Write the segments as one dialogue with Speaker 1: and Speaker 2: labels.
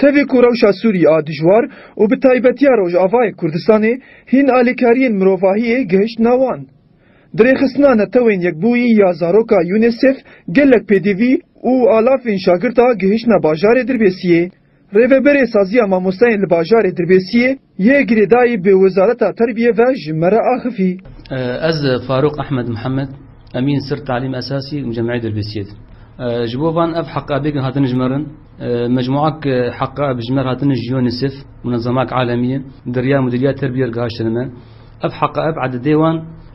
Speaker 1: Tevê ku rewşa Sûrî a dijwar û bi taybetiya Rojavayê Kurdistanê hîn alîkariyên mirovahiyê gihiştna wan. Di rêxistina Netewên Yekbûyî ya zaroka UNICEF gelek pêdivî û alafên şagird a gihiştna bajarê Dirbêsiyê. Rêveberê Saziya Mamosteyên li Bajarê Dirbêsiyê yê girêdayî bi Wezareta Terbiyê ve ji me re axivî. Ez Farûq Ehmed Mihemed, Emîn Sir Talîm Esasî û Mucemeyê Dirbêsiyê di. Ji bo van ev heqabêgin hatin ji me re, mecmuak heqab ji me re hatin ji UNICEF, munezemak alemî ye, di riya Mudîriya Terbiyê re gihiştin me. Ev heqab ededê wan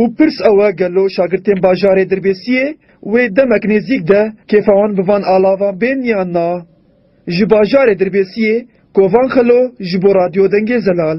Speaker 1: Û pirs ew e gelo şagirtên bajarê Dirbêsiyê wê demek nêzîk de kêfa wan bi van alavan bên yan na? Ji bajarê Dirbêsiyê, Kovan Xelo ji bo Radyo Dengê Zelal.